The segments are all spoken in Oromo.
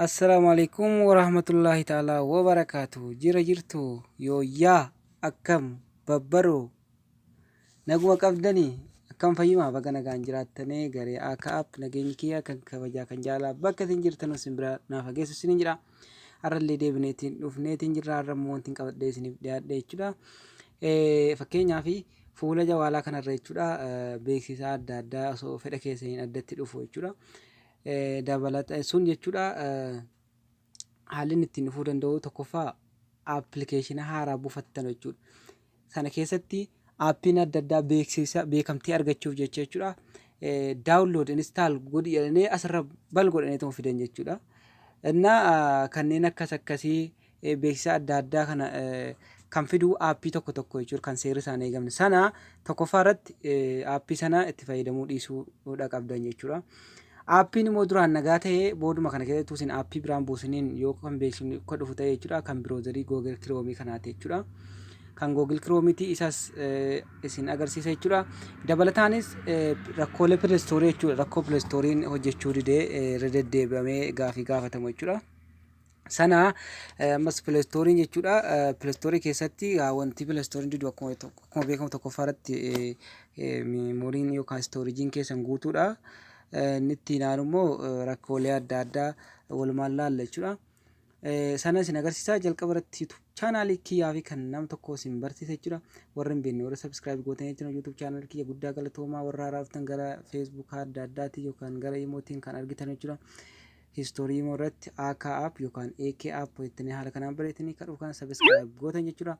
Assalaamu alaikum warahmatullaahi ta'aalaa wabarakaatu jira jirtu yooyyaa akkam babbaroo naguma qabdanii akkam fayyumaa baga nagaan jiraattanee garee akka app nageenyi kiyya kan kabajaa kan jaalaa bakka isin jirtanuu isin bira naaf hageessu isinin jedha. Har'allee deebinee ittiin dhufnee ittiin jirra. Har'a immoo wanti qabadhee isiniif dhiyaadhe jechuudha. Fakkeenyaaf fuula jawaalaa kanarra jechuudha beeksisa adda addaa osoo fedha keessaniin addatti dhufu jechuudha. Dabalata sun jechuudha haalli inni ittiin dhufuu danda'u tokkoffaa appilikeeshina haaraa buufattan jechuudha. Sana keessatti aappiin adda addaa beeksisa beekamtii argachuuf jecha jechuudha. Daawunlood instaal godhi jedhanii asirra bal godhanii ta'uu fidan jechuudha. Innaa kanneen akkas akkasii beeksisa adda addaa kana kan fiduu aappii tokko tokko jechuudha kan seerri isaan eegamne. Sana tokkoffaa irratti aappii sana itti fayyadamuu dhiisuu qabdan jechuudha. Aappiin immoo duraan nagaa ta'e booduma kana keessatti utuu isin aappii biraan buusiniin yoo kan beeksifni akka dhufu ta'e jechuudha kan biroozarii Google Chrome kanaati jechuudha. Kan Google Chrome ti isas eh, isin agarsiisa jechuudha. Dabalataanis eh, rakkoolee Play Store jechuudha rakkoo Play Store'n hojjechuu didee eh, irra deddeebi'amee gaafii gaafatamu jechuudha. sana ammas pilastooriin jechuudha pilastoorii keessatti wanti pilastooriin didu akkuma akkuma beekamu tokkoffaa irratti meemoriin yookaan istoorijiin keessan guutuudha. Inni itti naanu immoo rakkoolee adda addaa walumaan laalla jechuudha. Sana isin agarsiisaa jalqaba irratti YouTube chaanaalii kiyyaa fi kan nama tokko isin barsiisa jechuudha. Warri hin beekne warri subscribe gootanii jechuudha YouTube chaanaalii kiyya guddaa galatoomaa warra haaraa dhuftan gara Facebook adda addaatiin yookaan gara imootiin kan argitan jechuudha. History imo irratti AK app yokan AK app jettanii haala kanaan bareetanii kadhuu kana subscribe gootan jechuudha.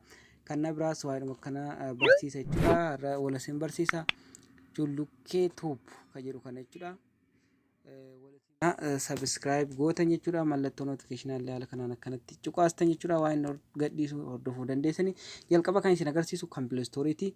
Kan na biraas waa'eedhuma kana barsiisa jechuudha. Har'a wala sin barsiisa. Jullukkee tube ka jedhu kana jechuudha. Subscribe gootan jechuudha. Mallattoo notification illee haala kanaan akkanatti cuqaastan jechuudha. Waa'een gadhiisu hordofuu dandeessanii. Jalqaba kan isin agarsiisu kan Play Store ti.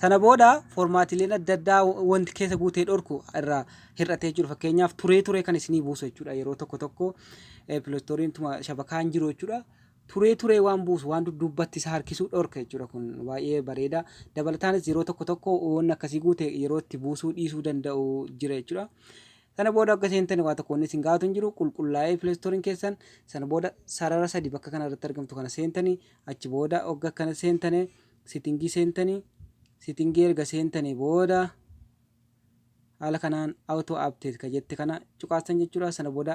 Sana booda formaatiileen adda addaa wanti keessa guutee dhorku irraa hir'atee jiru fakkeenyaaf turee turee kan isinii buusu jechuudha yeroo tokko tokko pilostooriin tuma shabakaan jiru jechuudha. Turee turee waan buusu waan dudduubbatti isa harkisuu dhorka jechuudha kun baay'ee bareeda. Dabalataanis yeroo tokko tokko waan akkasii guute yeroo itti buusuu dhiisuu danda'u jira jechuudha. Sana booda akka seentan waa tokko inni isin gaafatu hin jiru qulqullaa'ee pilostooriin keessan sana booda sarara sadi bakka kana irratti argamtu kana seentanii achi booda ogga akkana seentanii Setting seentani setting erga seentani booda haala kanaan auto update ka jette kana cuqaastan jechuudha sana booda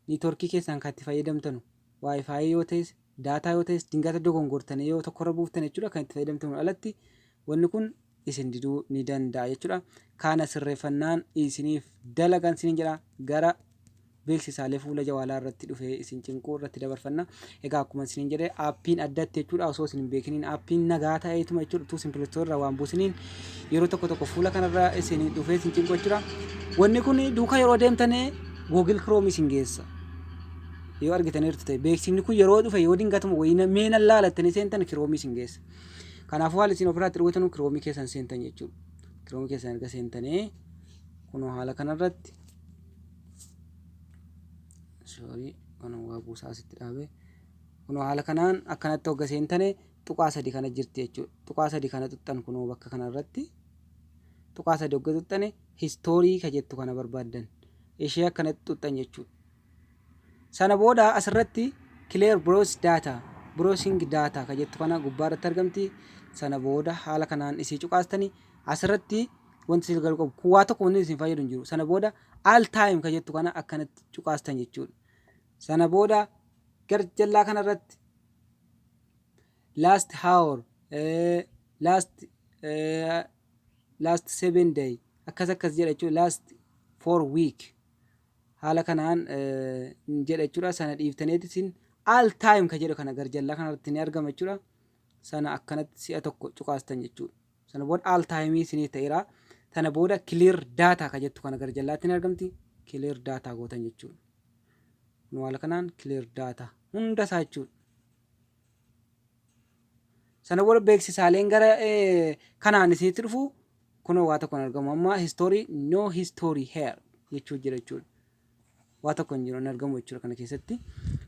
network keessan kan itti fayyadamtanu wifi yoo ta'es daataa yoo ta'es dingata dogongortanii yoo tokkorra buuftan jechuudha kan itti fayyadamtanu alatti wanni kun isin diduu ni danda'a jechuudha. Kaana sirreeffannaan isiniif dalagan isiniin jedha. Gara beeksisaalee fuula jawaalaa irratti dhufee isin cinquu irratti dabarfanna. Egaa akkuma isiniin jedhe aappiin addatti jechuudha osoo isin hin beekiniin aappiin nagaa ta'eetuma jechuudha utuu isin pilistoo irraa waan buusiniin yeroo tokko tokko fuula kanarra isin dhufee isin cinquu jechuudha. Wanni kun duuka yeroo deemtanii Google Chrome isin geessa. Yoo argitaniirtu ta'e beeksifni kun yeroo dhufe yoo dingatuma wayii na- mee nan laala jettanii seentan Chrome isin geessa. Kanaafuu haala isin ofirraatti dhugutanu kiroomii keessan seentan jechuudha. Kiroomii keessan erga seentanii kunoo haala kanarratti sorry kan waa buusaa asitti dhaabe kunoo haala kanaan akkanatti hogga seentane tuqaa sadi kana jirti jechuudha. Tuqaa sadi kana tuqxan kunoo bakka kanarratti tuqaa sadi hogga tuqxane histoorii ka jettu kana barbaaddan ishee akkanatti tuqxan jechuudha. Sana booda as irratti Clear Browse Data, Browsing Data, ka jettu kana gubbaa irratti argamti. Sana booda haala kanaan isii cuqaastani. As irratti wanti isin galu qabu kun waa tokko wanni isin fayyadu hin jiru. Sana booda All Time ka jettu kana akkanatti cuqaastan jechuudha. Sana booda gar jallaa kana irratti Last Hour, eh, Last, eh, Last Seven Day akkas akkas jedha jechuudha. Last Four Week Haala kanaan ni jedha jechuudha. Sana dhiiftaneeti isin all time ka jedhu kana garjallaa kanarratti ni argama jechuudha. Sana akkanatti si'a tokko cuqaastan jechuudha. Sana booda all time isiniif ta'eera. Sana booda clear data ka jettu kana garjallaatti ni argamti. Clear data gootan jechuudha. Kun haala kanaan clear data hunda isaa jechuudha. Sana booda beeksisaaleen gara kanaan isinitti dhufu kunoo waa tokko hin argamu. Amma history no history here jechuu jira jechuudha. Waa tokko hin jiru hin argamu jechuudha kana keessatti.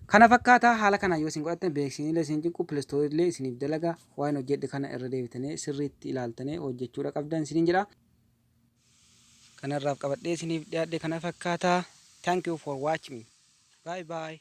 Kana fakkaataa haala kanaan yoo isin godhattan beeksisniillee isin cinqu pilistoorillee isiniif dalaga waan hojjedhe kana irra deebitanii sirriitti ilaaltanii hojjechuudha qabdan isiniin jedha. Kanarraaf qabadhee isiniif dhiyaadhe kana fakkaataa. Thank you for watching. Bye bye.